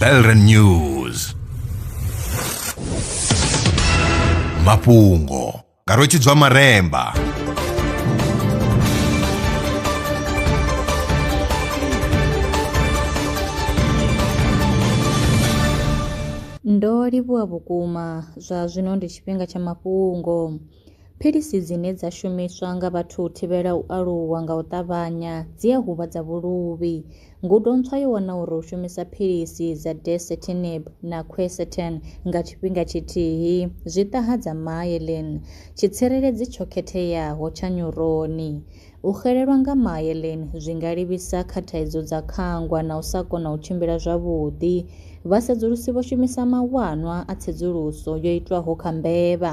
Belren News mafhungo nga rwetshidzwa maremba Ndo livhuwa vhukuma, zwa zwino ndi tshifhinga tsha mafhungo. Philisi dzine dza shumiswa nga vhathu u thivhela u aluwa nga u ṱavhanya dzi a huvhadza vhuluvhi. Ngudo ntswa yo wana uri u shumisa philisi dza dasatinib na quercetin nga tshifhinga tshithihi zwi ṱahadza myelin, tshitsireledzi tsho khetheaho tsha nyuroni. U xelelwa nga myelin zwi nga livhisa kha thaidzo dza khangwa na u sa kona u tshimbila zwavhuḓi. Vhasedzulusi vho shumisa mawanwa a tsedzuluso yo itwaho kha mbevha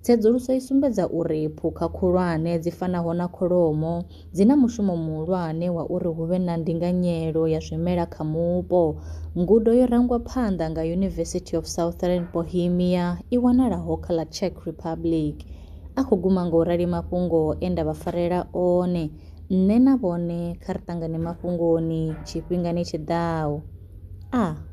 Tsedzuluso i sumbedza uri phukha khulwane dzi fanaho na kholomo dzi na mushumo muhulwane wa uri hu vhe na ndinganyelo ya zwimela kha mupo. Ngudo yo rangwa phanḓa nga University of Southern Bohemia i wanalaho kha ḽa Czech Republic. A khou guma nga u rali mafhungo e nda vha farela one. Nṋe na vhone kha ri ṱangane mafhungoni tshifhingani tshi ḓaho. A.